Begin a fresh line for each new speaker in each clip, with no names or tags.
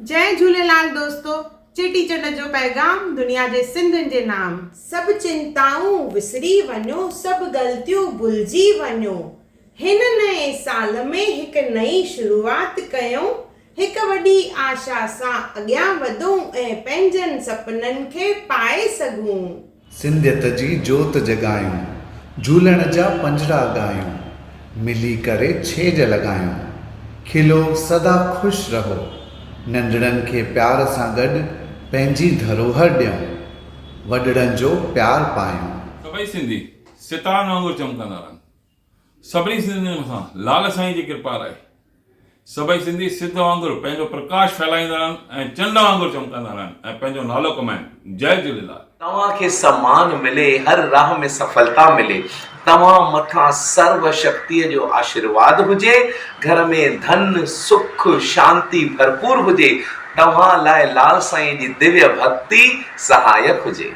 جئي جهوليلال دوستو چيٽي چنڊ جو پيغام دنيا جي سنڌين جي نام. سڀ چنتائون وسري وڃو سڀ غلطيون ڀلجي وڃو هن نئين سال ۾ هڪ نئين شروعات ڪيون هڪ وڏي آشا سان اڳيان وڌون ۽ پنهنجن سپنن کي پائي سگهون. سنڌيت
جي جوت جڳايون، جهولڻ جا پنجڙا ڳايون، ملي ڪري ڇيڄ لڳايون، کلو سدا خوش رهو، ننڍڙن کي پيار سان گڏ پنهنجي ڌروهر ڏيون، وڏڙن جو پيار پايون. سڀئي سنڌي
ستارن وانگر چمڪندا رهن. سڀني سنڌين جي مٿان لال سائين جي ڪرپا رهي. سڀئي سنڌي سج وانگر پنهنجو پرڪاش ڦهلائيندا رهن ۽ چنڊ وانگر چمڪندا رهن ۽ پنهنجو نالو ڪمائين. جئي جهليلال. توهان کي سمان
ملي هر راھ ۾ سڦلتا ملي توهان مٿان سرو شڪتي جو آشيرواد هجي گهر ۾ ڌن سک شانتي ڀرپور هجي توهان لاء لال سائين جي ديويه ڀڳتي سهايڪ هجي.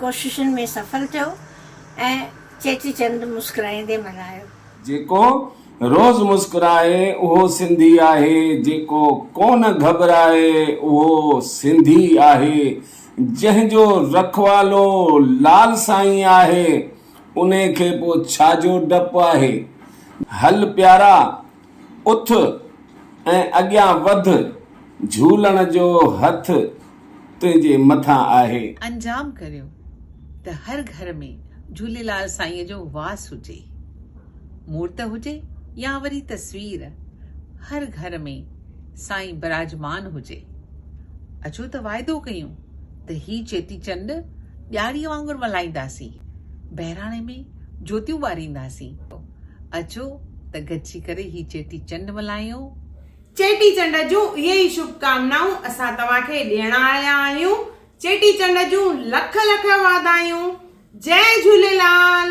ڪوششن ۾ سڦل ٿيو ۽ چيٽي چنڊ مسڪرائيندي ملهايو. جيڪو
روز مسڪرائي اهو سنڌي آهي، جيڪو ڪونه گهٻرائي اهو سنڌي آهي، جنهن جو رکوالو لال سائين آهي، انهي کي پوء ڇا جو ڊپ آهي. هل پيارا! اٿ ۽ اڳيان وڌ، جھولڻ جو ھٿ تنھنجي مٿان آھي. انجام ڪريو
ته هر گهر ۾ جهوليلال سائينء جو واس هجي. مورت هجي يا وري تصوير، هر گهر ۾ سائين براجمان هجي. اچو ته واعدو ڪيون ته هي چيٽي چنڊ ڏياريء وانگر ملهائينداسين، بهراڻي ۾ جوتيون ٻارينداسين. اچو ته گڏجي ڪري هي چيٽي چنڊ ملهايون. چيٽي چنڊ
جون اهي ئي شڀ ڪامنائون اسان توهان کي ڏيڻ آيا آهيون. چيٽي چنڊ جون لک لک واڌايون. جئه جهوليلال.